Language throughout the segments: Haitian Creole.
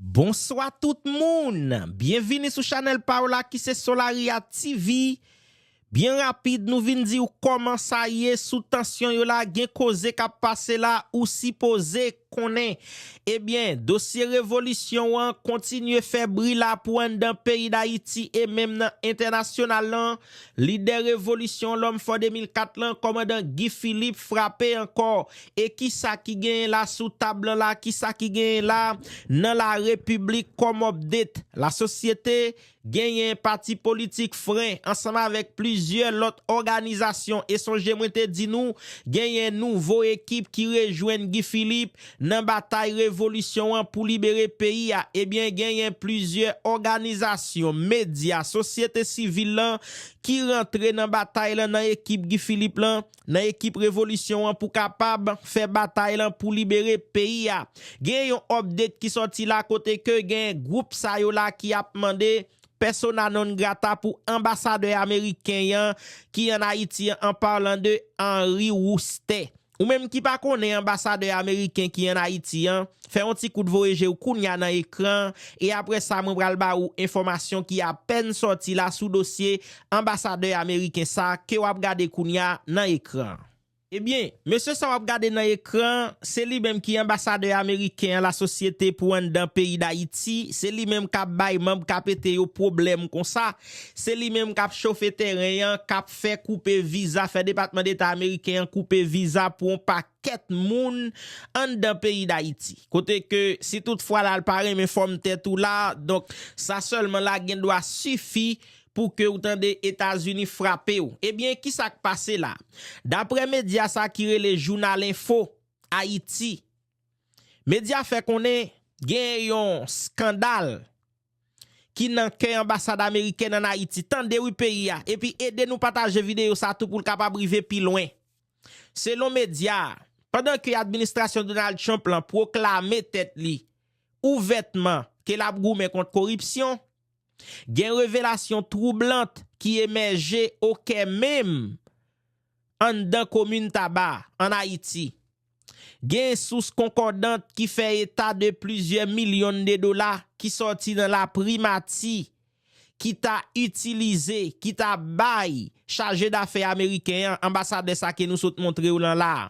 Bonswa tout moun! Byenvini sou chanèl pa w la ki se Solaria TV. Byen rapid nou vin di w kòman sa ye sou tansyon yo la gen koze k ap pase la ou sipoze konnen. Ebyen dosye revolisyon an kontinye fè bri la pou anndan peyi Dayiti e menm nan entènasyonal lan. Lidè revolisyon lòm fò 2004 lan kòmandan Guy Philippe frape ankò e kisa ki genyen la sou tab lan la kisa ki genyen la nan la repiblik kòm update la sosyete genyen pati politik fren ansanm avèk plizyè lòt òganizasyon e sonje mwen te di nou genyen nouvo ekip ki rejwenn Guy Philippe Nan batay revolisyon an pou libere peyi a ebyen genyen plizyè òganizasyon, medya, sosyete sivil lan ki rantre nan batay lan nan ekip Guy Philippe lan, nan ekip revolisyon an pou kapab fè batay lan pou libere peyi a. Genyen yon update ki sòti la kote ke genyen gwoup sa yo la ki ap mande persona non grata pou anbasadè ameriken an ki an Ayiti an parlant de Henry Roustey. Ou menm ki pa konnen anbasadè ameriken ki an Ayiti an, fè yon ti kout voye je w kounya nan ekran an e apre sa mwen pral ba ou enfòmasyon ki apèn sòti la sou dosye anbasadè ameriken sa ke w ap gade kounya nan ekran an. Ebyen, mesye sa w ap gade nan ekran an, se li menm ki anbasadè ameriken an lasosyete pou anndan peyi Dayiti, se li menm k ap bay manb KPT yo pwoblèm konsa, Se li menm kap chofe teren an, kap fè koupe viza, fè Depatman Deta Ameriken an koupe viza pou yon pakèt moun anndan peyi Dayiti. Kote ke si tout fwa lal pa renmen fòm tèt ou la, donk sa sèlman la gen dwa sifi pou ke ou tande Etazini frape ou. Ebyen ki sak pase la? Daprè medya sa ki rele Jounal Enfo Ayiti, medya fè konnen gen yon skandal ki nan kè anbasad amerikèn an Ayiti tande wi peyi a epi ede nou pataje videyo sa tou pou l kapab rive pi lwen. Selon medya a, pandan ke administrasyon Donald Trump lan pwoklame tèt li ouvètman ke l ap goumen kont koripsyon, gen revelasyon twoublant ki emèje o kè menm anndan komin Taba, an Ayiti. Gen sous konkòdant ki fè eta de plizyè milyon de dola ki sòti nan laprimati ki ta itilize, ki ta bay chajedafè ameriken an, anbasadè sa ke nou sot montre w lan la a,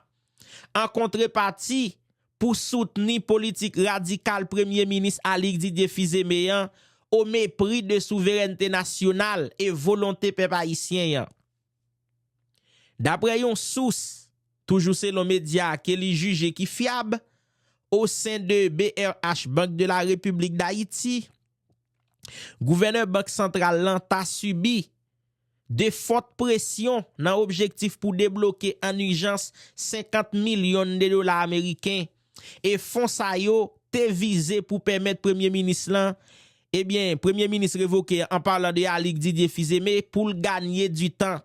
an kontrepati pou soutni politik radikal Premye Minis Alix Didier Fils-Aimé an, o mepri de souverènte nasyonal e volonte pèp ayisyen an. Daprè yon sous, toujou selon medya ke li jije ki fyab, o sen de brh Bank de la Repiblik Dayiti, gouvènè Bank Santral lan ta sibi de fòt presyon nan objektif pou debloke an ijans 50 milyon de dola ameriken e fon sa yo te vize pou pèmèt premye minis lan, ebyen premye minis revoke an palan de Alix Didier Fils-Aimé pou l ganye di tan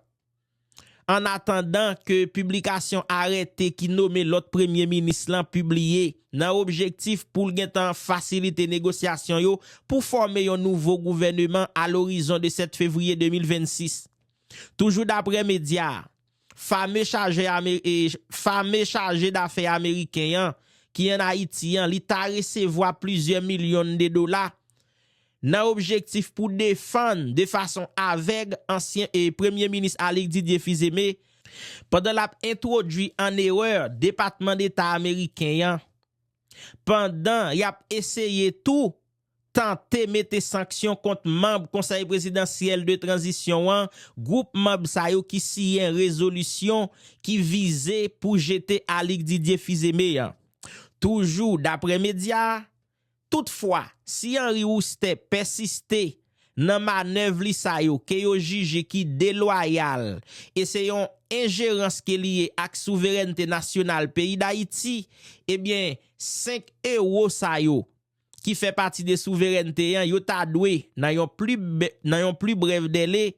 an atandan ke piblikasyon arète ki nome lòt premye minis lan pibliye nan objektif pou l gentan fasilite negosyasyon yo pou fòme yon nouvo gouvèneman a lorizon de 7 fevriye 2026. Toujou daprè medya Fame Fame chaje dafè ameriken an ki an Ayiti an li ta resevwa plizyè milyon de dola nan objektif pou defann de fason avèg ansyen Premye Minis Alix Didier Fils-Aimé pandan lap entwodui an erè Depatman Deta ameriken an pandan yap eseye tou tante mete sanksyon kont manb Konsèy Prezidansyèl de Tranzisyon an, gwoup manb sa yo ki siyen rezolisyon ki vize pou jete Alix Didier Fils-Aimé an. Toujou daprè medya a, toutfwa, si Henri Roustè pèsiste nan manèv li sa yo ke yo jije ki delwayal e se yon enjerans ke li ye ak souverènte nasyonal peyi Dayiti, ebyen 5 ewo sa yo ki fè pati de souverènte an, yo ta dwe, nan yon pli nan yon pli brèv dèle,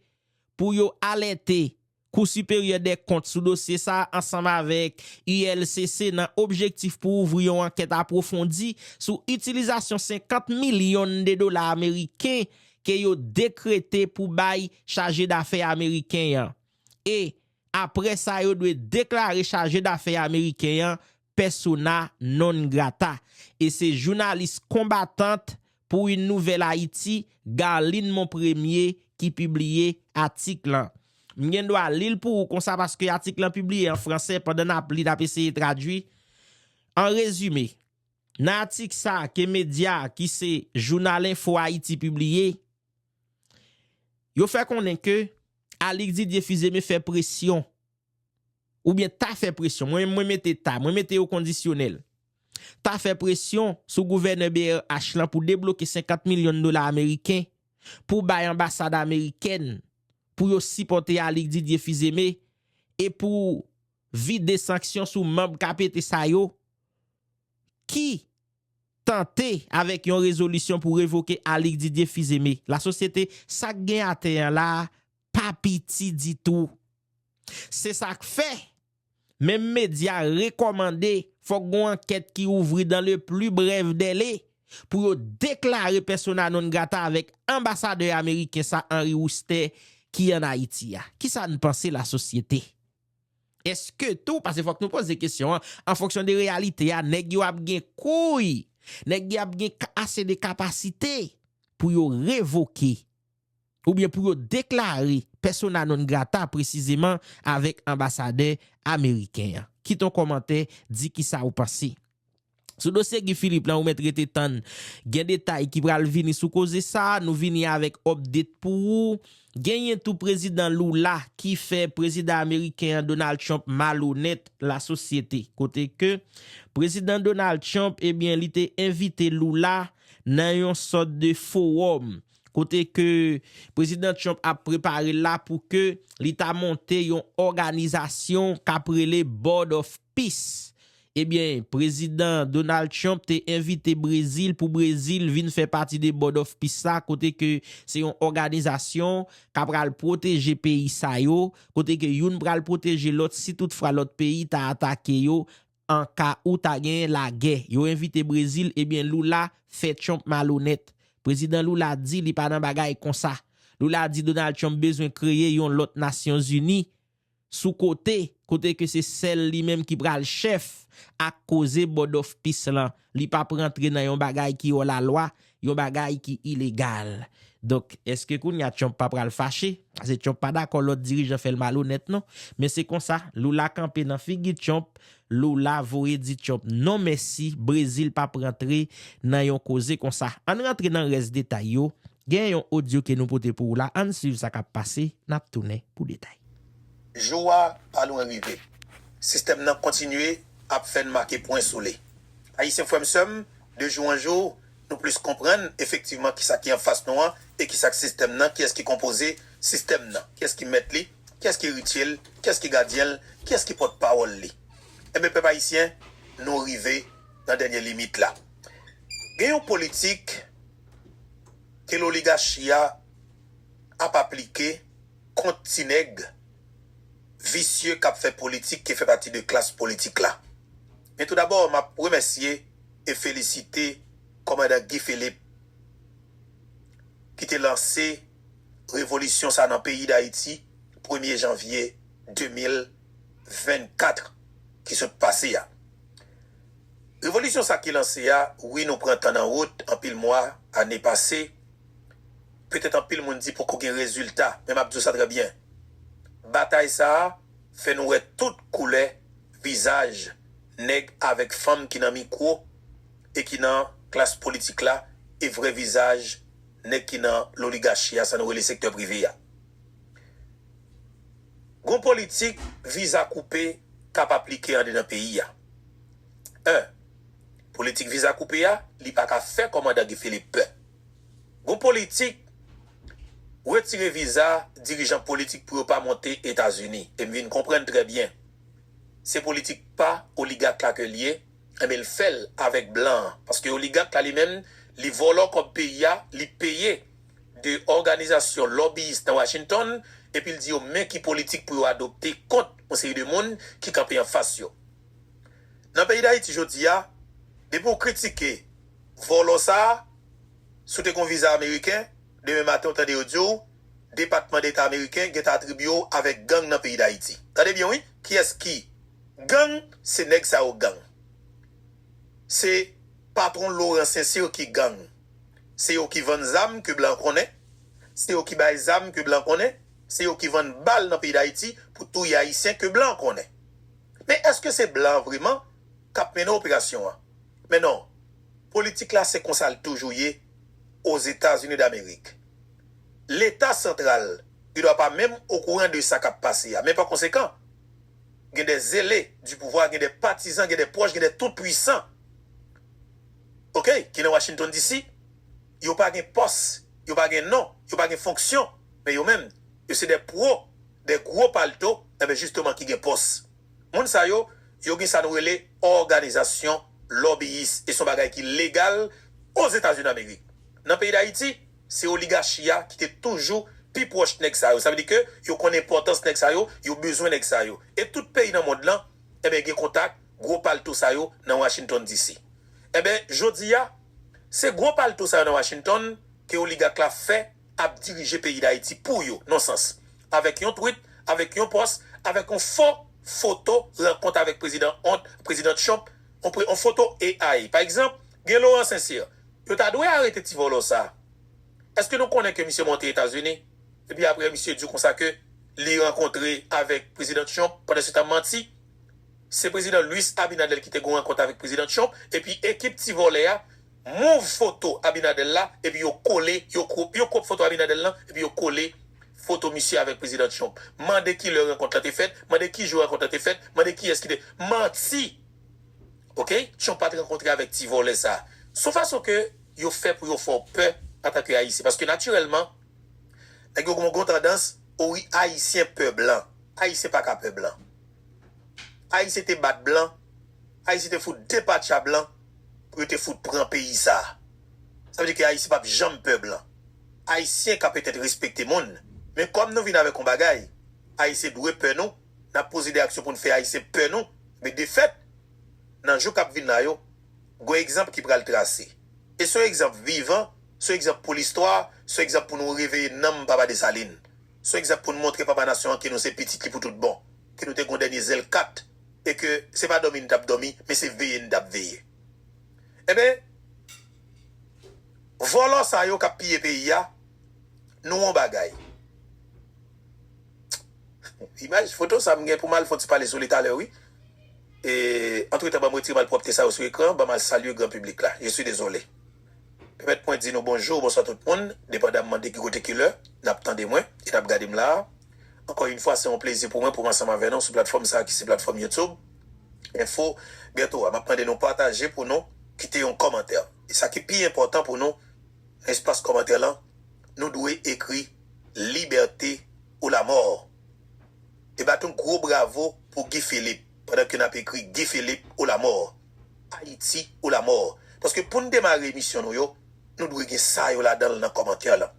pou yo alète Kou Siperyè Dèkont sou dosye sa a ansanm avèk ULCC nan objektif pou ouvri yon ankèt apwofondi sou itilizasyon 50 milyon de dola ameriken ke yo dekrete pou bay Chaje Dafè ameriken an e apre sa yo dwe deklare Chaje Dafè ameriken an persona non grata e se jounalis konbatant pou Une Nouvelle Haïti, Garline Monpremier ki pibliye atik lan. M gen dwa li l pou ou konsa paske atik lan pibliye an franse pandan n ap li n ap eseye tradui. An rezime, nan atik sa ke medya ki se Jounal Enfo Ayiti pibliye, yo fè konnen ke Alix Didier Fils-Aimé fè presyon oubyen ta fè presyon, mwen menm mwen mete ta, mwen mete yo kondisyonèl, ta fè presyon sou gouvènè brh lan pou debloke 50 milyon dola ameriken pou bay anbasad amerikèn pou yo sipòte Alix Didier Fils-Aimé e pou vide sanksyon sou manb kapete sa yo ki tante avèk yon rezolisyon pou revoke Alix Didier Fils-Aimé. Lasosyete, sa k gen atè an la a pa piti ditou. Se sa k fè, menm medya rekòmande fòk gon ankèt ki ouvri dan le pli brèv dèle pou yo deklare pèsona non grata avèk anbasadè ameriken sa Henri Wouster ki an Ayiti a. Ki sa n panse lasosyete? Èske tou, pase fòk nou poze kesyon an, an fonksyon de reyalite a, nèg yo ap gen kouy, nèg y ap gen ase de kapasite pou yo revoke oubyen pou yo deklare persona non grata presizeman avèk anbasadè ameriken an. Kite yon kòmantè, di kisa ou panse. Sou dosye Guy Philippe lan ou mèt rete tann gen detay ki pral vini sou koze sa, nou vini avèk update pou ou. Genyen tou prezidan Lula ki fè prezidan ameriken an Donald Trump malonèt la sosyete. Kote ke prezidan Donald Trump ebyen li te envite Lula nan yon sòt de fowòm. kote ke Prezidan Trump ap prepare la pou ke li ta monte yon òganizasyon kap rele Board of Peace. Ebyen, Prezidan Donald Trump te envite Brezil pou Brezil vin fè pati de Board of Peace sa kote ke se yon òganizasyon ka pral pwoteje peyi sa yo, kote ke youn pral pwoteje lòt si tout fra lòt peyi ta atake yo. an ka ou ta genyen lagè. Yo envite Brezil ebyen Lula fè Trump malonèt. Prezidan Lula di li pa nan bagay konsa. Lula di Donald Trump bezwen kreye yon lòt Nasyon Zini sou kote, kote ke se sèl li menm ki pral chèf ak koze Board of Peace lan. Li pap rantre nan yon bagay ki òlalwa Yon bagay ki ilegal. Donk, èske kounye a Trump pa pral fache? Pase Trump pa dakò lòt dirijan fè l malonèt non. Men se konsa, Lula kanpe nan figi Trump, Lula voye di Trump non mèsi, Brezil pap rantre nan yon koze konsa. An n rantre nan rès detay yo, gen yon odyo ke nou pote pou ou la, an n swiv sa k ap pase, n ap tounen pou detay. Jou a pa lwen rive. Sistèm nan kontinye ap fè n make pwen sou li. Ayisyen frè m sè m, de jou an jou, nou plis konprann efektivman kisa ki anfas nou an e kisa k sistèm nan, kiyès ki konpoze sistèm nan, kiyès ki mèt li, kiyès ki eritye l, kiyès ki gadyen l, kiyès ki pòt pawòl li. Enben pèp ayisyen, nou rive nan dènye limit la. Gen yon politik ke loligachi a ap aplike. kont ti nèg visye kap fè politik ke fè pati de klas politik la. Men tou dabò map remèsye e felisite kòmandan Guy Philippe ki te lanse revolisyon sa nan peyi Dayiti premye janvye 2024 ki sot pase a. Revolisyon sa ki lanse a wi nou pran tan nan wout anpil mwa, ane pase, Petèt anpil moun di poko gen rezilta, men m ap di w sa trè byen, batay sa a fè nou wè tout koulè vizaj nèg avèk fanm ki nan mikwo e ki nan klas politik la e vrè vizaj nèg ki nan loligachi a, sa nou rele sektè prive a. Gon politik viza koupe k ap aplike andedan peyi a. 1, Politik viza koupe a, li pa ka fè kòmandan Guy Philippe pè. Gon politik retire viza dirijan politik pou yo pa monte etazini e m vin konprann trè byen se politik pa oligak la ke l ye enben l fè l avèk blan an paske oligak la li menm li vòlò kòb peyi a li peye 2 òganizasyon lòbiyis nan washington epi l di yo men ki politik pou yo adopte kont yon seri de moun ki kanpe anfas yo nan peyi dayiti jodi a depi w kritike Vòlò sa, si w te gon viza ameriken, demen maten w tande yo di w depatman deta ameriken gentan atribye w avèk gang nan peyi dayiti. Tande byen wi, kiyès ki gang, se nèg sa yo gang. Se patron Laurent Sincere ki gang. Se yo ki vann zam ke blan konnen, se yo ki bay zam ke blan konnen, se yo ki vann bal nan peyi dayiti pou touye ayisyen ke blan konnen. Men èske se blan vreman kap mennen operasyon an? Men non, politik la se konsa l toujou ye Ozetazini Damerik. Leta santral gen dwa pa menm okouran de sa k ap pase a, men pa konsekan, gen dè zele di pouvwa, gen dè patizan, gen dè pwòch, gen dè tout pwisan ok ki nan Washington DC. Yo pa gen pòs, yo pa gen non, yo pa gen fonksyon, men yo menm, yo se dè pwo, dè gwo palto, enben jisteman ki gen pòs. Moun sa yo, yo gen sa nou rele òganizasyon lòbiyis e son bagay ki legal Ozetazini Amerik. Nan peyi Dayiti, se oligachi a ki te toujou pi pwòch nèg sa yo. Sa vle di ke yo konn enpòtans nèg sa yo, yo bezwen nèg sa yo. E tout peyi nan mond lan, enben gen kontak gwo palto sa yo nan Washington DC. Enben, jodi a, se gwo palto sa yo nan Washington ke oligak la fè. ap dirije peyi dayiti pou yo non sans avèk yon twit avèk yon pòs avèk yon fo foto rankont avèk prezidan ont prezidan trump yon pre yon foto AI pa egzanp gen Laurent Sincère yo ta dwe arete ti vòlò sa eske nou konnen ke misye monte etazini epi aprè misye di konsa ke li rankontre avèk prezidan trump pandan se ta manti se prezidan Luis Abinader ki te gen yon rankont avèk prezidan trump epi ekip ti vòlè a move foto abinadel la epi yo kole yo crop yo crop foto abinadel lan epi yo kole foto misye avek prezidan trump mande kilè rankont lan te fèt mande kijou rankont lan te fèt mande kiyès kite manti ok trump pat rankontre avek ti vòlè sa son fason ke yo fè pou yo fèw pè antanke ayisyen paske natirèlman nèg yo gon gon tandans o wi ayisyen pè blan ayisyen paka pè blan ayisyen te bat blan ayisyen te fout depatcha blan. pou yo te fout pran peyi sa a. Sa vle di ke Ayisyen pap janm pè blan. Ayisyen ka petèt respekte moun, men kòm nou vin avèk yon bagay, Ayisyen dwe pè nou, n ap poze de aksyon pou n fè Ayisyen pè nou, men defèt, nan jou k ap vin la yo, gon egzanp ki pral trase. E son egzanp vivan, son egzanp pou listwa, son egzanp pou nou reveye nanm Papa Desalin. Son egzanp pou n montre Papa Nasyon an ke nou se pitit li pou tout bon, ke nou te gon dènye zèl kat. e ke se pa dòmi n t ap dòmi, men se veye n t ap veye. Enben, vòlò sa yo k ap piye peyi a, nou on bagay. Imaj, foto sa m gen pou m al fon ti pale sou li talè wi. E, antretan ban m retire malpwòpte sa yo sou ekran, ban m al salye gran piblik la. Je suis désolé. Pèmèt mwen di nou bonjou, bonswa tout moun, depandamman de ki kote ki lè n ap tande mwen e n ap gade m la a. Ankò yn fwa se yon plezi pou mwen poum ansanm avè nou sou platfòm sa ki se platfòm YouTube info bientôt a map mande nou pataje pou nou kite yon kòmantè e sa ki pi enpòtan pou nou nan espas kòmantè lan nou dwe ekri liberté ou la mort e bat yon gwo bravo pou Guy Philippe pandan ke nap ekri Guy Philippe ou la mort Haïti ou la mort paske poun demare emisyon nou yo nou dwe gen sa yo ladanl nan kòmantè lan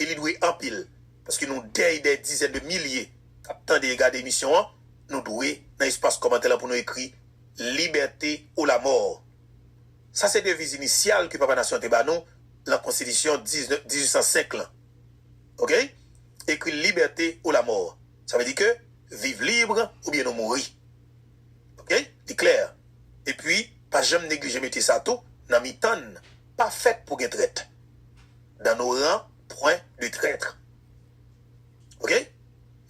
e li dwe anpil. Paske nou dèy dè dizèn de milye k ap tande e gade emisyon an, nou dwe nan espas kòmantè lan pou nou ekri Liberté ou la mort. Sa se deviz inisyal ke Papa Nasyon an te ba nou lan Konstitisyon 1805 lan. Ok. Ekri Liberté ou la mort. Sa vle di ke viv lib oubyen nou mouri. Ok. Li klè. E pwi, pa janm neglije mete sa tou nan mitan n, pa fèt pou gen trèt. dans nos rangs point de traitre ok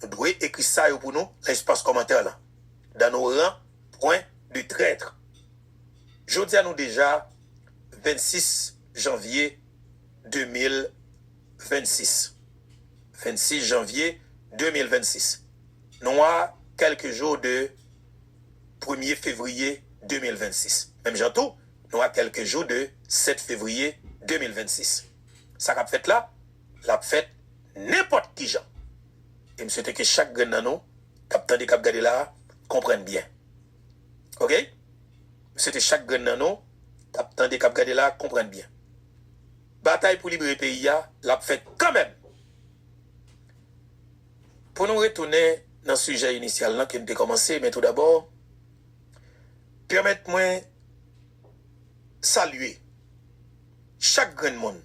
nou dwe ekri sa yo pou nou nan espas kòmantè lan dans nos rangs point de traitre jodia nou deja 26 janvye 2026 26 janvye 2026 nou a kèlke jou de premye fevriye 2026 menm jan tou Nou a kèlke jou de 7 fevriye 2026. Sa k ap fèt la, l ap fèt nenpòt ki jan. E m swete ke chak grenn nan nou k ap tande, k ap gade la a konprann byen. Ok! M swete chak grenn nan nou k ap tande, k ap gade la a konprann byen. Batay pou libere peyi a, l ap fèt kanmenm! Pou nou retounen nan sijè inisyal lan ke m te kòmanse, men tou dabò, Pèmèt mwen salye chak grenn moun,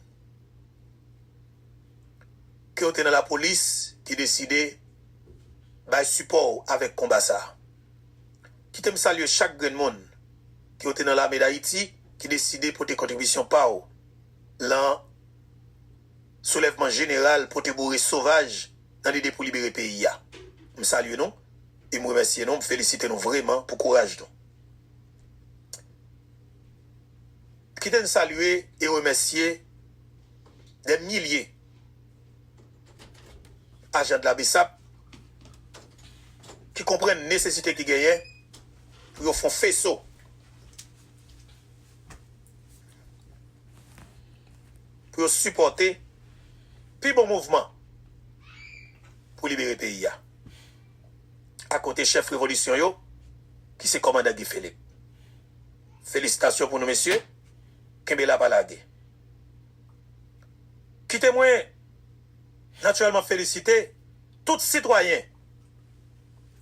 ke w te nan lapolis, ki deside bay sipò w avèk konba sa a. Kite m salye chak grenn moun, ke w te nan Lame Dayiti, ki deside pote kontribisyon pa w lan soulèvman jeneral pote boure sovaj nan lide pou libere peyi a. M salye nou. e m remèsye nou, m felisite nou vreman pou kouraj nou. Kite n salye e remèsye dè milye ajan de la bsap ki konprann nesesite ki genyen pou yo fon feso pou yo sipòte pi bon mouvman pou libere peyi a. akote chèf revolisyon yo ki se kòmandan Guy Philippe. Felisitasyon pou nou mesye, kenbe la pa lage. Kite mwen natirèlman felisite tout sitwayen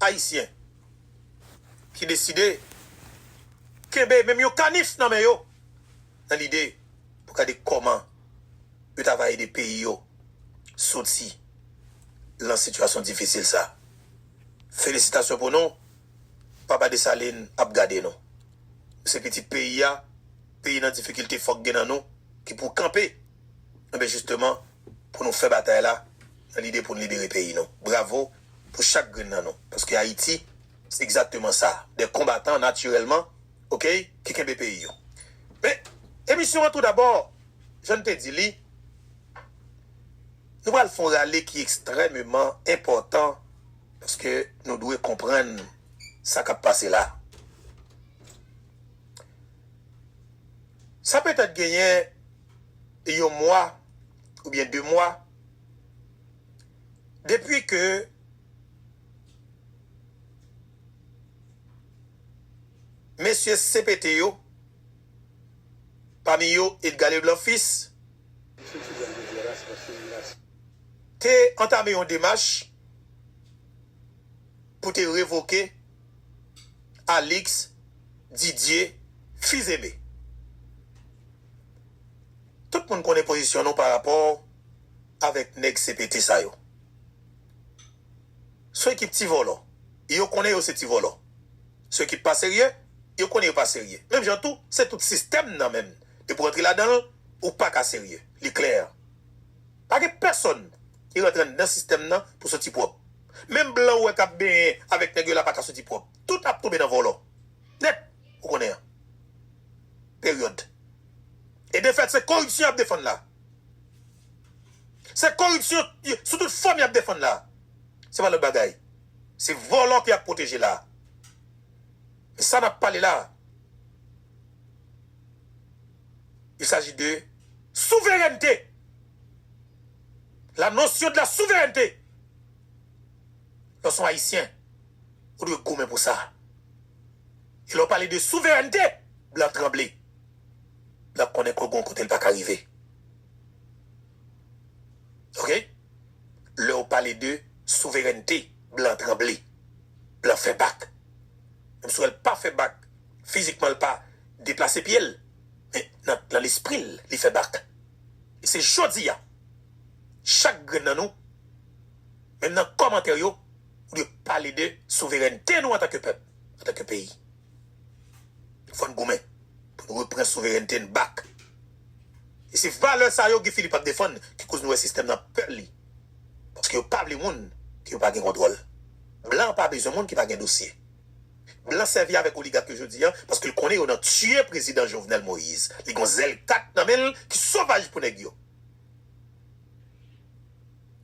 ayisyen ki deside kenbe menm yon kanif nan men yo nan lide pou gade kòman yo ta va ede peyi yo soti lan sitiyasyon difisil sa. Felisitasyon pou nou, Papa Desalin ap gade nou. Nou se pitit peyi a, peyi nan difikilte fòk gen nan nou ki pou kanpe anben jisteman pou nou fè batay la nan lide pou n libere peyi nou. Bravo pou chak grenn nan nou paske Ayiti se egzakteman sa, de konbatan natirèlman. ok ki kenbe peyi yo men emisyon an tou dabò jan n te di li nou pral fon rale ki ekstrèmeman enpòtan paske nou dwe konprann sa k ap pase la sa petèt genyen yon mwa oubyen de mwa depi ke. Mesye CPT yo, pami yo Edgar Leblanc Fils, te antame yon demach pou te revoke Alix Didier Fils Aimé. Tout moun konnen pozisyon nou parapò avèk nèg CPT sa yo. Sou ekip ti vòlò, yo konnen yo se ti vòlò. Sou ekip pa serye, yo konnen yo pa serye. Menm jan tou, se tout sistèm nan menm. Depi w antre ladan l, ou pa ka serye. Li klè. Pa gen pèsonn ki rantre anndan sistèm nan pou soti pwòp. Menm blan ou wè k ap benyen avèk nèg yo la pa ka soti pwòp. Tout ap tonbe nan vòlò. Nèt. Ou konnen an. Peryòd. E defèt se koripsyon y ap defann la. Se koripsyon sou tout fòm y ap defann la. Se pa lòt bagay. Se vòlò ki ap pwoteje la. Men sa n ap pale la. Il s'agit de souveraineté. La notion de la souveraineté. Lè w se yon Ayisyen, ou dwe goumen pou sa. E lè w pale de souveraineté, blan tranble. Blan konnen ke gen yon kote l pa ka rive. Vre, lè ou pale de souverènte, blan tranble. Blan fè bak. Menm si w wè l pa fè bak fizikman, l pa deplase pye l, men nan lespri l, li fè bak. E se jodi a, chak grenn nan nou, menm nan kòmantè yo, ou dwe pale de souverènte nou antanke pèp, antanke peyi. Fò n goumen pou n repran souverènte n bak. E se valè sa yo Guy Philippe ap defann ki koz nou wè sistèm nan pè li. Paske yo pa vle moun ke yo pa gen kontwòl. Blan pa bezwen moun ki pa gen dosye. Blan sèvi avèk oligak yo jodi a paske l konnen yo nan tiye prezidan Jovenel Moise. Li gon zèl kat nan men l ki sovaj pou nèg yo.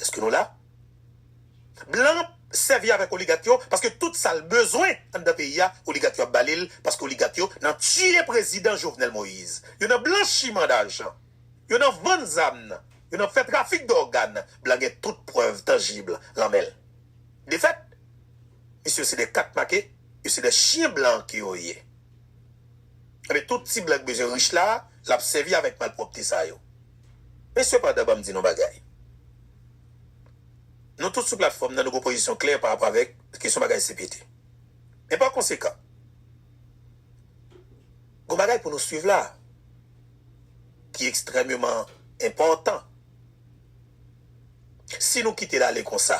Eske nou la? Blan sèvi avèk oligak yo paske tout sal bezwen anndan peyi a oligak yo ap balil paske oligak yo nan tiye prezidan Jovenel Moïse yo nan blanchiman dajan yo nan vann zam nan yo nan fè trafik dògàn blan gen tout prèv tanjib lan menl defèt misye yo se de kat make yo se de chyen blan ke yo ye enben tout ti blan ki bezwen rich la lap sèvi avèk malpwòpte sa yo. Men sepandan banm di nou bagay. Nou tout sou platfòm nan nou gen yon pozisyon klè pa rapò avèk kesyon bagay CPT. Men pa konsekan gen yon bagay pou nou swiv la ki ekstrèmeman enpòtan. Si nou kite l ale konsa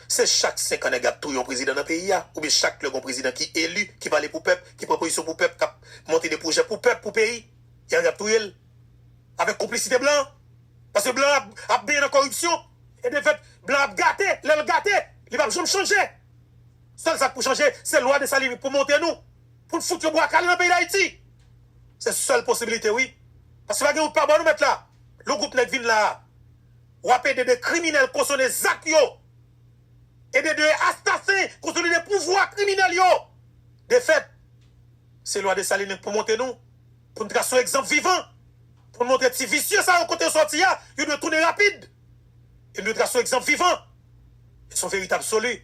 se chak 5 an nèg la ap touye yon prezidan nan peyi a oubyen chak lè gen yon prezidan ki eli, ki pale pou pèp, ki pran pozisyon pou pèp, k ap monte de pwojè pou pèp, pou peyi. Ya yap touye l avèk konplisite blan paske blan ap benyen nan kòripsyon e defèt blan ap gate lè l gate li pap janm chanje sèl sak pou chanje se lwa Dessalines pou monte nou pou n fout yon bwa kale nan peyi dayiti se sèl posibilite wi paske pa gen wout pa bò nou mèt la lon gwoup nèg vin la a wap ede de kriminèl kosone zak yo ede de astasen konsolide pouvwa kriminèl yo defèt. Se lwa Dessalines pou monte nou, pou n trase yon egzanp vivan, pou n montre ti visye sa yo kote yo sòti a, yo dwe tounen rapid. E n dwe trase yon egzanp vivan. E s on verite absoli.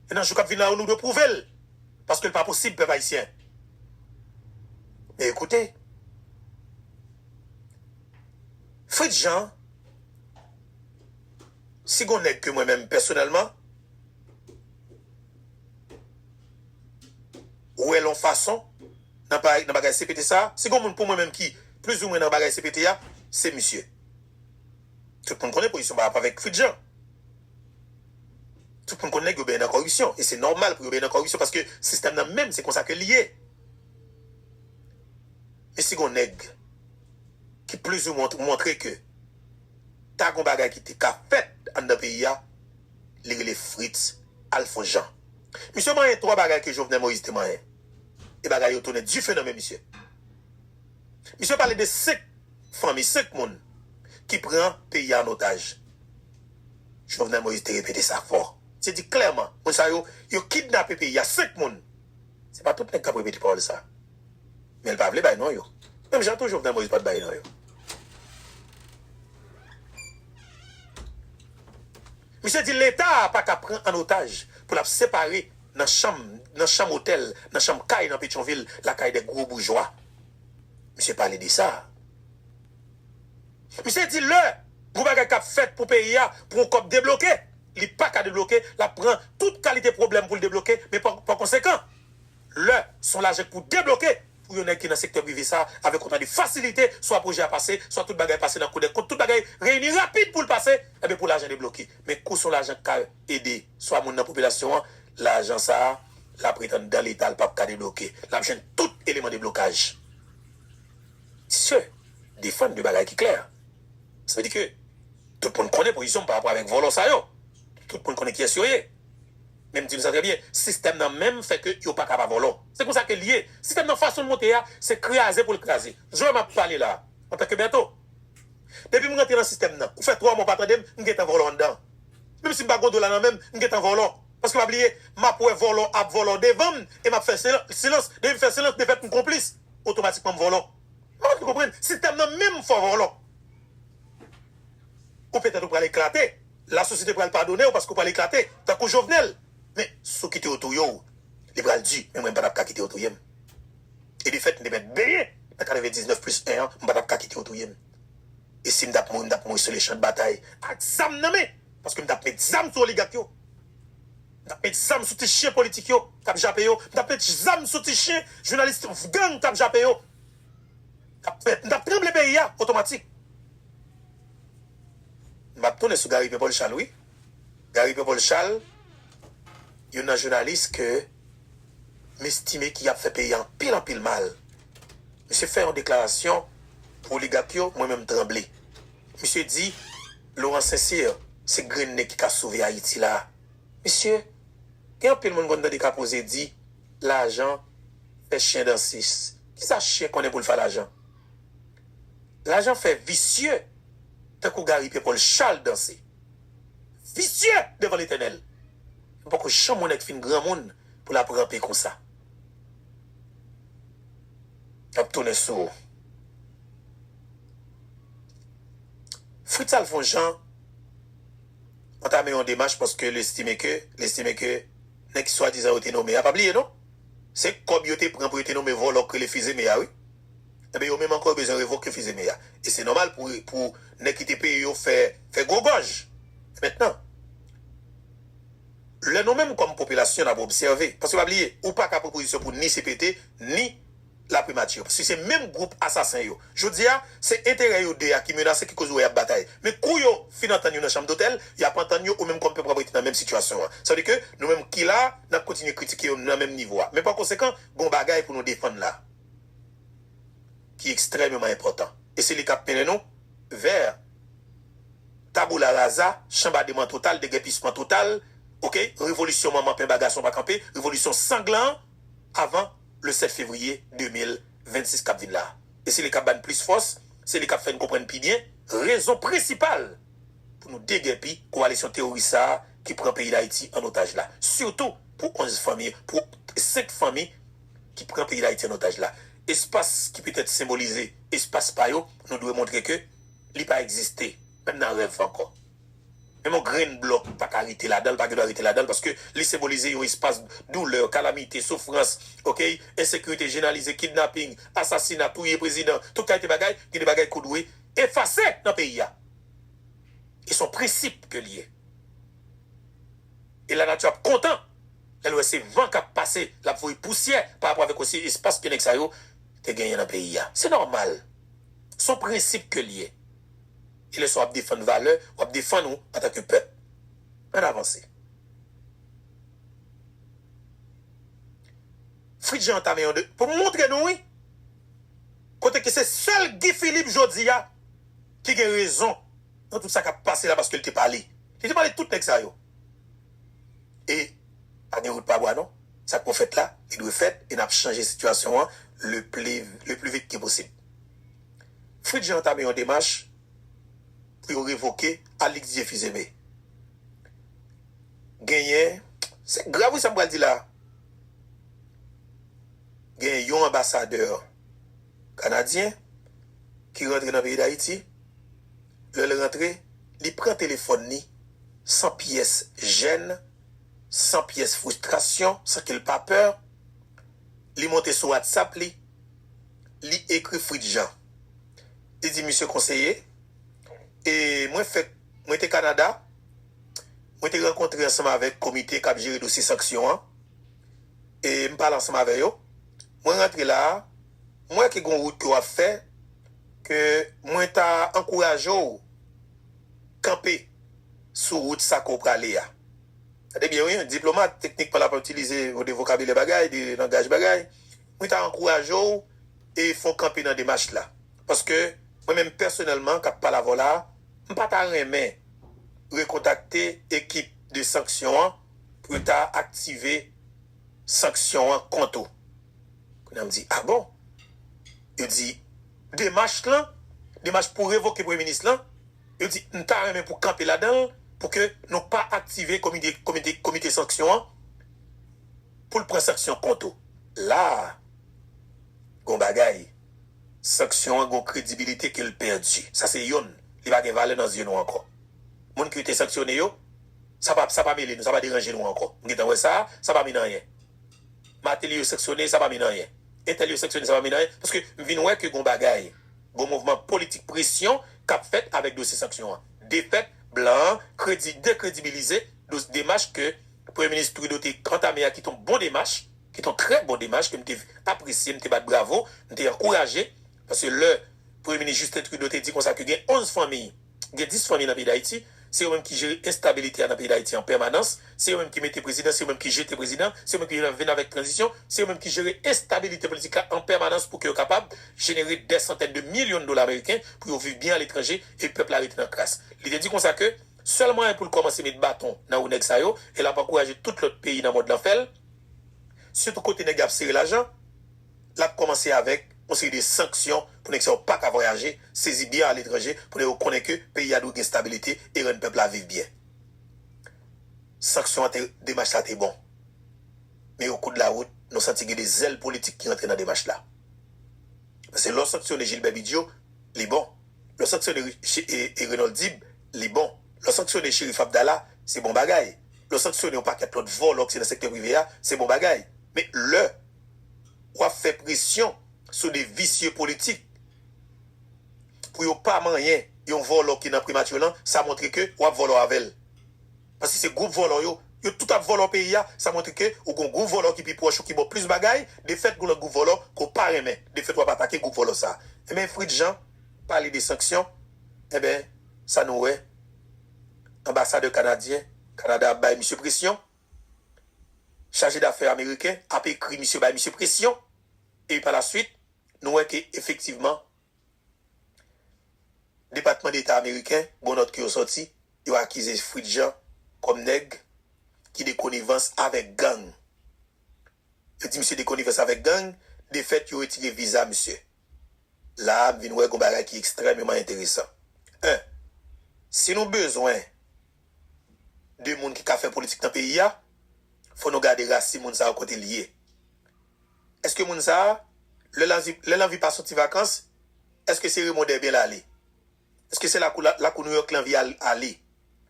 E nan jou k ap vin la yo nou dwe pwouve l. Paske l pa posib, pèp ayisyen. E koute. Fritz Jean, si gon nèg ke mwen menm pèsonèlman. wèl yon fason nan bagay CPT sa, si gon moun pou mwen menm ki plizoumwen nan bagay CPT a, se misye. Tout moun konnen pozisyon Barack avèk Fritz Jean. Tout moun konnen nèg yo benyen nan kòripsyon e se nòmal pou yo benyen nan kòripsyon paske sistèm nan menm se konsa ke li ye. Men si gon nèg ki plizoumwen montre ke ta gon bagay ki te ka fèt anndan peyi a, li rele Fritz Alphonse Jean. Misye manyen 3 bagay ke Jovenel Moïse te manyen. E bagay yo tounen dife nan men misye. Misye pale de 5 fanmi, 5 moun ki pran peyi a an otaj. Jovenel Moïse te repete sa fò. Misye di klèman moun sa yo, yo kidnape peyi a. 5 moun. Se pa tout nèg kap repete pawòl sa. Men l pa vle bay non yo. Menm jan tou Jovenel Moïse pat bay non yo. Misye di leta a paka pran an otaj pou l ap separe nan chanm, nan chanm otèl, nan chanm kay nan Petyonvil lakay de gwo boujwa. Misye pale de sa. Misye di lè gwo bagay k ap fèt pou peyi a pou yon kòb debloke, li paka debloke, l ap pran tout kalite pwoblèm pou l debloke men pa konsekan. Lè son lajè k pou debloke pou yon nèg ki nan sektè prive sa avèk otan de fasilite swa pwojè a pase swa tout bagay pase nan kou dèkont tout bagay reyini rapid pou l pase enben pou lajan debloke men kou son lajan k ka ede swa moun nan popilasyon an lajan sa l ap ret anndan leta l p ap ka debloke l ap jwenn tout eleman deblokaj misye defann de bagay ki klè sa vle di ke tout moun konnen pozisyon m parapò avèk vòlò sa yo tout moun konnen kiyès yo ye. Men m di m sa trè byen, sistèm nan menm fè ke yo pa ka pa vòlò. Se konsa ke l ye. Sistèm nan fason l monte a, se kraze pou l kraze. Joe m ap pale la a, antanke Bertho. Depi m rantre nan sistèm nan, ou fè 3 mwa ou pa tande m, m gentan vòlò anndan. Menm si m pa gen dola nan men m, m gentan vòlò. Paske pa bliye, m ap wè vòlò ap vòlò devan m e m ap fè silans. Depi m fè silans, de fèt m konplis. Otomatikman m vòlò. M pa vin konprann. Sistèm nan menm fè w vòlò. Ou petèt ou pral eklate, la sosyete pral padonew paske ou pral eklate tankou Jovenel men si w kite yo touye w li pral di men mwen m patap ka kite yo touye m e de fèt m te mèt benyen nan 99 plis 1 an m patap ka kite yo touye m e si m tap mouri m tap mouri sou lechan de batay ak zam nan men paske m tap met zam sou oligak yo m tap met zam sou ti chyen politik yo kap jape yo m tap met zam sou ti chyen jounalis gang kap jape yo. tap fèt. M tap tranble peyi a otomatik. M ap tounen sou Gary Pierre Paul Charles wi. Gary Pierre Paul Charles youn nan jounalis ke m estime ki ap fè peyi a anpil anpil mal. Misye fè yon deklarasyon pou oligak yo mwen menm tranble. Misye di Laurent Sincere se grenn nèg ki ka sove Ayiti la. Mesye, gen anpil moun m konn tande ka poze di. lajan fè chien danse kisa chien konnen poul fa lajan lajan fè visye tankou gari pye pol chal danse visye devan letènèl m poko janm wè nèg fin granmoun poul ap ranpe konsa yap tounen sou ou fritz al fon jan antame yon demach paske l estime ke l estime ke. nèg swadizan yo te nome a, pa bliye non, se kòb yo te pran pou yo te nome vòlò k rele Fils-Aimé a wi. Enben yo menm ankò yo bezwen revoke Fils-Aimé a. E se nòmal pou pou nèg ki te peye yo fè fè gwo gòj. Mentnan, lè nou menm kòm popilasyon n ap obsève, paske pa bliye, ou pa ka pran pozisyon pou ni CPT, ni. laprimati yo paske se menm gwoup asasen yo jodi a se enterè yo 2 a ki menase ki koz ou wè yap batay men kou yo fin antann yo nan chanm dotèl yap antann yo ou menm kòm pèp wap rete nan menm sitiyasyon an sa vle di ke nou menm ki la nap kontinye kritike yo nan menm nivo a men pa konsekan gon bagay pou nou defann la ki ekstrèmeman enpòtan e se li kap mennen nou vè taboula raza chanbademan total degèpisman total ok revolisyon manman penba gason pa kanpe revolisyon sanglan an avan. le 7 fevriye 2026 k ap vin la. E se li k ap ba n plis fòs, se li k ap fè n konprann pi byen rezon prensipal pou nou degèpi kowalisyon teworis sa a ki pran peyi Dayiti an otaj la. Sitou pou 11 fanmi, pou 5 fanmi ki pran peyi Dayiti an otaj la. Espas ki petèt senbolize espas pa yo, nou dwe montre ke li pa egziste. Menm nan rèv ankò. Menm yon grenn blòk pa ka rete ladan l, pa gendwa rete ladan l, paske li senbolize yon espas doulè, kalamite, soufrans, ok, ensekirite jenalize, kidnaping, asasina, touye prezidan, tout kalite bagay, gen de bagay ke w dwe efase nan peyi a. E se yon prensip ke li ye. E lanati ap kontan lè l wè se van k ap pase, l ap voye pousyè pa rapò avèk osi espas ke nèg sa yo te genyen nan peyi a. Se nòmal. Se yon prensip ke l ye. e lè sa wap defann valè wap defann ou antan ke pèp. Ann avanse. Fritz Jean antame yon de pou m montre nou wi kote ke se sèl Guy Philippe jodi a ki gen rezon nan tout sa kap pase la paske l te pale. Li te pale tout nèg sa yo. E pa gen wout pa bwa non. Sa k pou fèt la li dwe fèt e nap chanje sitiyasyon an le pli vit ke posib. Fritz Jean antame yon demach pou yo revoke Alix Dieu Fils Aimé. Genyen, se grav wi sa m pral di la a, genyen yon anbasadè kanadyen ki rantre nan peyi Dayiti, lè l rantre li pran telefòn li san pyès jèn, san pyès fristrasyon, san ke l pa pè, li monte sou WhatsApp li. li ekri Fritz Jean. Li di misye konseye, e mwen fèk mwen te Kanada, mwen te rankontre ansanm avèk komite k ap jere dosye sanksyon an, e m pale ansanm avè yo. Mwen rantre la a, m wè ke gen yon wout ke w ap fè ke mwen ta ankouraje w kanpe sou wout sa ke w prale a. Tande byen wi, yon diplomat teknikman l ap itilize yon de vokabilè bagay, de langaj bagay. Mwen ta ankouraje w e fè w kanpe nan demach la. Paske mwen menm pèsonèlman kap pale avè w la a, m pa ta renmen rekontakte ekip de sanksyon an pou yo ta aktive sanksyon an kont ou. Kounya m di, a bon? Yo di, demach lan, demach pou revoke premye minis lan, yo di m ta renmen pou kanpe ladan l pou ke nou pa aktive komite sanksyon an. poul pran sanksyon kont ou la a gon bagay sanksyon an gon kredibilite kel pèdi sa se yonn li pa gen valè nan zye nou ankò moun kiw te sanksyone yo sa pa sa pa mele nou sa pa deranje nou ankò m gentan wè sa a sa pa min anyen Martelly yo sanksyone sa pa min anyen entèl yo sanksyone sa pa min anyen paske m vin wè ke gon bagay gon mouvman politik presyon kap fèt avèk dosye sanksyon an defèt blan an kredi dekredibilize dos demach ke Premye Minis Trudeau te antame a ki te yon bon demach, ki te yon trè bon demach ke m te apresye, m te bat bravo, m te ankouraje. Paske lè Premye Minis Justin Trudeau te di konsa ke gen 11 fanmi, gen 10 fanmi nan peyi Dayiti, se yo menm ki jere enstabilite a nan peyi Dayiti an pèmanans, se yo menm ki mete prezidan, se yo menm ki jete prezidan, se yo menm ki vin avèk tranzisyon, se yo menm ki jere enstabilite politik la an pèmanans pou ke yo kapab jenere dè santèn de milyon dola meriken pou yo viv byen aletranje e pèp la rete nan kras. Li te di konsa ke. Sèl mwayen pou l kòmanse met baton nan wou nèg sa yo e l ap ankouraje tout lòt peyi nan mond lan fè l, sitou kote nèg yo ap sere lajan, l ap kòmanse avèk yon seri de sanksyon pou nèg sa yo pa ka vwayaje, sezi byen aletranje pou nèg yo konnen ke peyi a dwe gen stabilite e rann pèp la viv byen. Sanksyon an te demach sa te bon. Men o kou de la wout, nou santi gen de zèl politik ki rantre nan demach la. Paske lè w sanksyone Jilbè Bidyo, li bon. Lè w sanksyone Renold Dib, li bon. Lè w sanksyone Cherif Abdala, se bon bagay. Lè w sanksyone yon pakèt lòt vòlò ki se nan sektè prive a, se bon bagay. Men lè w ap fè presyon sou de visye politik pou yo pa manyen yon vòlò ki nan Primature lan, sa montre ke w ap vòlò avè l. Paske se group vòlò yo, yo tout ap vòlò peyi a, sa montre ke ou gon group vòlò ki pi pwòch ou ki baw plis bagay, defèt gon lòt group vòlò ke w pa renmen, defèt wap atake group vòlò sa. Enben Fritz Jean pale de sanksyon, enben sa nou wè anbasadè kanadyen, Kanada ap bay misye presyon, chaje dafè ameriken ap ekri misye bay misye presyon, epi pa la swit nou wè ke efektivman Depatman Deta Ameriken, bon nòt ke yo sòti, yo akize Fritz Jean kòm nèg ki de konivans avèk gang. Yo di misye de konivans avèk gang, de fèt yo retire viza misye. La a m vin wè gon bagay ki ekstrèmeman enteresan. 1, Si nou bezwen de moun ki ka fè politik nan peyi a, fò nou gade rasin moun sa yo kote li ye. Eske moun sa a, lè l anvi, lè l anvi pa soti vakans, eske se Raymond Derbien l ale? Eske se lakou, lakou Nouyòk l anvi al, ale?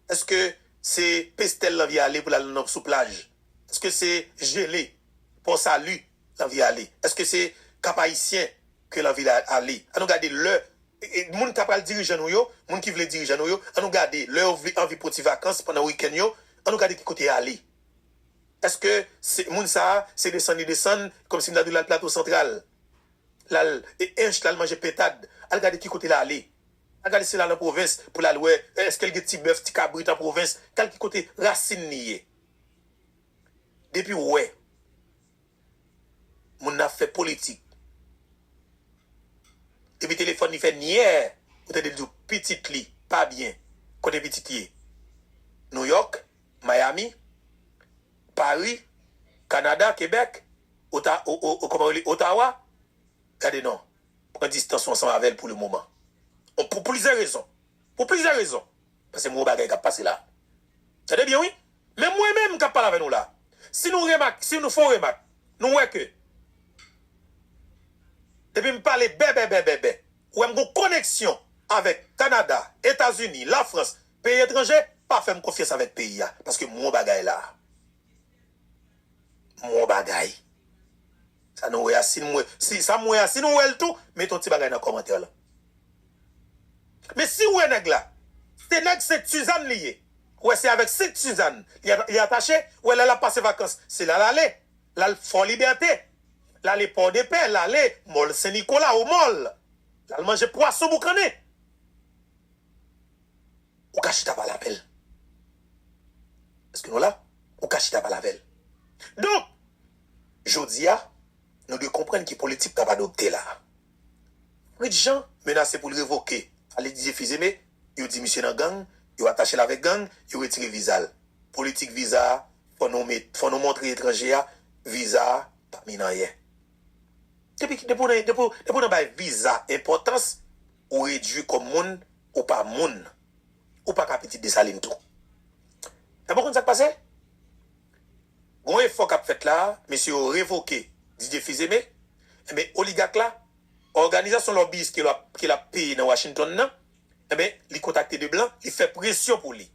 Eske se Pestel l anvi ale pou l al nan, sou plaj? Eske se Gelée, Pò Sali l anvi ale? Eske se Kap Ayisyen ke l anvi ale? An nou gade lè, moun ta pral dirijan nou yo, moun ki vle dirijan nou yo, an nou gade lè yo vle, anvi pran ti vakans pandan wikenn yo, an nou gade ki kote y ale. Eske se moun sa se desann li desann kòmsi m ta di l al Plato Santral l al Ench l al manje pentad al gade ki kote l ale al gade si l al an pwovens pou l al wè eske l gen ti bèf ti kabrit an pwovens kal ki kote rasin li ye depi w wè moun nan ap fè politik epi telefòn li fè nyèè ou tande l di w pitit li pa byen kote pitit ye Nouyòk Miami, Paris, Canada, Quebec, Ota o o o kòman yo rele Ottawa, gade non, pran distans ou ansanm avè l pou le moman. On pou plizyè rezon. Pou plizyè rezon. Paske m wè yon bagay k ap pase la. Tande byen wi. Menm mwen menm k ap pale avè nou la, si nou remak, si nou fè yon remak, nou wè ke depi m pale bèbèbèbèbè, ou wè m gen yon koneksyon avèk Canada, Etazini, Lafrans, Peyi etranje pa fèm konfyans avèk peyi a paske m won bagay la. M won bagay. Sa nou wè a si nou wè, si sa m wè a si nou wè l tou mete yon ti bagay nan kòmantè lan. Men si ou wè nèg la se nèg sent Suzanne li ye, ou wè se avèk sent Suzanne li atache, ou wè lè l ap pase vakans se la l ale, l al Fò Libète, l ale Pòdepè, l ale Mòl Sen Nikola, Omòl, l al manje pwason boukannen. Ou ka chita pale avè l. Èske nou la? Ou ka chita pale avè l. Donk, jodi a, nou dwe konprann ki politik k ap adopte la a. Fritz Jean menase pou l revoke Alix Didier Fils-Aimé, yo di misye nan gang, yo atache l avèk gang, yo retire viza l. Politik viza a, fò nou met, fò nou montre etranje a, viza a pa min anyen. Depi ki, depi w nan, depi w nan bay viza enpòtans, Ou redwi kòm moun, ou pa moun. Ou pa ka pitit Desalin tou. Epi ou konn sa k pase? Gen yon efò k ap fèt la a, mesye yo revoke Didier Fils-Aimé, enben oligak la, òganizasyon lòbiyis ke l ap ke l ap peye nan Washington nan, enben li kontakte 2 blan, li fè presyon pou li.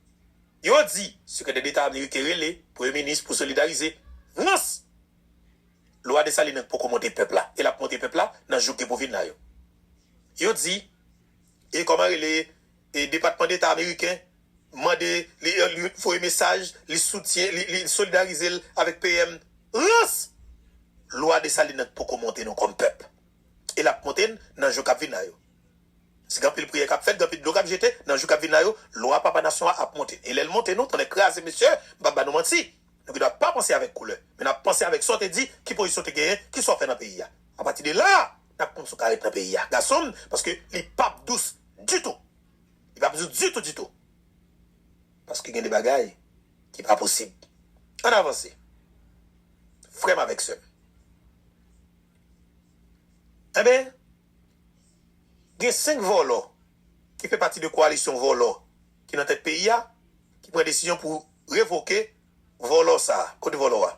Yo di, Sekretè Deta Ameriken rele Premye Minis pou solidarize. Rans! Lwa Dessalines an poko monte pèp la e l ap monte pèp la nan jou k gen pou vin la yo. Yo di e kòman rele e Depatman Deta ameriken mande li li voye mesaj li soutyen li li solidarize l avèk PM rans! Lwa Dessalines an poko monte nou kòm pèp e l ap monte n nan jou k ap vin la yo. S gen anpil priyè k ap fèt, gen anpil dlo k ap jete nan jou k ap vin la yo lwa papa nasyon an ap monte n e lè l monte nou tonnè kraze mesye m p ap ba nou manti Nou gen dwa pa panse avèk koulè, men n ap panse avèk sa w te di, ki pozisyon w te genyen, ki sa w fè nan peyi a. Apati de la a, n ap konn si w ka ret nan peyi a, gason m, paske li pap dous ditou. Li pap dous ditou ditou. Paske gen de bagay ki pa posib. An n avanse, frè m avèk sè m. Enben, gen senk vòlò ki fè pati de kowalisyon vòlò ki nan tèt peyi a, ki pran desizyon pou. Revoke vòlò sa a. Kote vòlò a?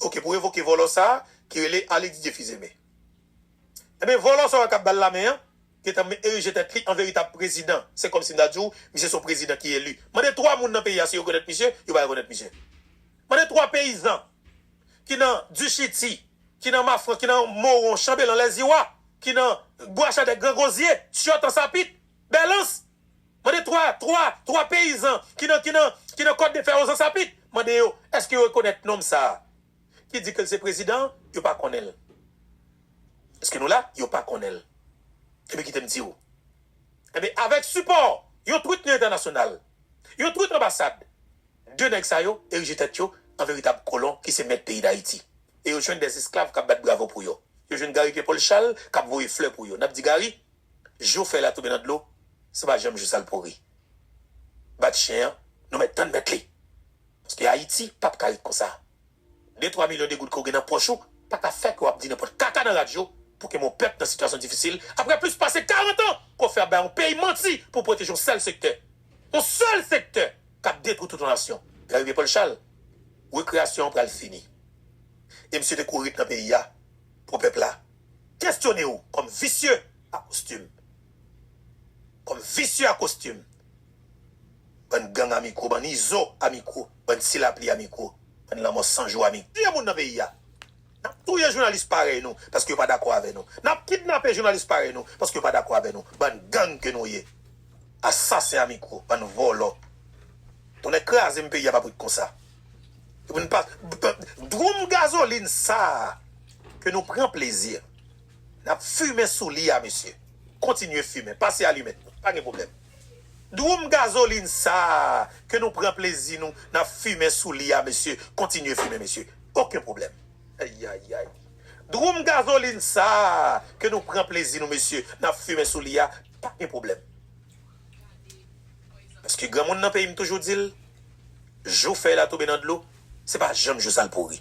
Ok pou revoke vòlò sa a ki rele Arly Didier Fils-Aimé. Enben vòlò sa a k ap bal lamen an gentan erije tèt li an veritab prezidan. Se kòmsi m ta di w misye se yon prezidan ki eli. Mande 3 moun nan peyi a si yo rekonèt misye, yo pa rekonèt misye. Mande 3 peyizan ki nan Duchiti, ki nan Mafran, ki nan Moron, Chanbelan, Lèziwa, ki nan Bwachadèk, Grangozye, Tyòt, Ansapit, Bèlans mande 3 3 3 peyizan ki nan ki nan ki nan kòt de fè ozans a pik mande yo èske yo rekonèt nonm sa a ki di ke l se prezidan an yo pa konnen l èske nou la yo pa konnen l enben kite m di w enben avèk sipò yon twit nan entènasyonal yon twit anbasad 2 nèg sa yo erije tèt yo an veritab kolon ki se mèt peyi dayiti e yo jwenn 2 esklav k ap bat bravo pou yo yo jwenn Gary Pierre Paul Charles k ap voye flè pou yo n ap di Gary jou fèy la tonbe nan dlo se pa janm jou sal pouri bat chyen an nou mèt tann mèt li paske ayiti pap ka ret konsa de twa milyon de goud ke w gen nan pòch ou pa ka fè ke w ap di nenpòt kaka nan radyo pou ke mon pèp nan sitiyasyon difisil aprè plis pase 40 an ke w fè ap bay yon peyi manti pou w pwoteje yon sèl sektè yon sèl sektè kap detwi tout yon nasyon lè rive pòl chal rekreyasyon an pral fini e misye te kouri ret nan peyi a pou pèp la. kestyone ou kòm visye a kostim kòm visye a kostim bann gang a mikro bann izo a mikro bann ti lapli a mikro bann lanmò san jou a mikro touye moun nan peyi a nap touye jounalis parèy nou paske yo pa dakò avè nou nap kidnape jounalis parèy nou paske yo pa dakò avè nou bann gang ke nou ye asasen a mikro bann vòlò tonnè krazem peyi a pap ret konsa. Pou n pa Dwoum gazolin sa a ke nou pran plezi n ap fimen sou li a mesye, kontinye fimen, pase alimèt nou, pa gen pwoblèm. Dwoum gazolin sa a ke nou pran plezi nou n ap fimen sou li a mesye, kontinye fimen mesye, oken pwoblèm. Ayayay! Dwoum gazolin sa a ke nou pran plezi nou mesye, n ap fimen sou li a, pa gen pwoblèm. Paske granmoun nan peyi m toujou di l, jou fèy la tonbe nan dlo, se pa janm jou sa l pouri.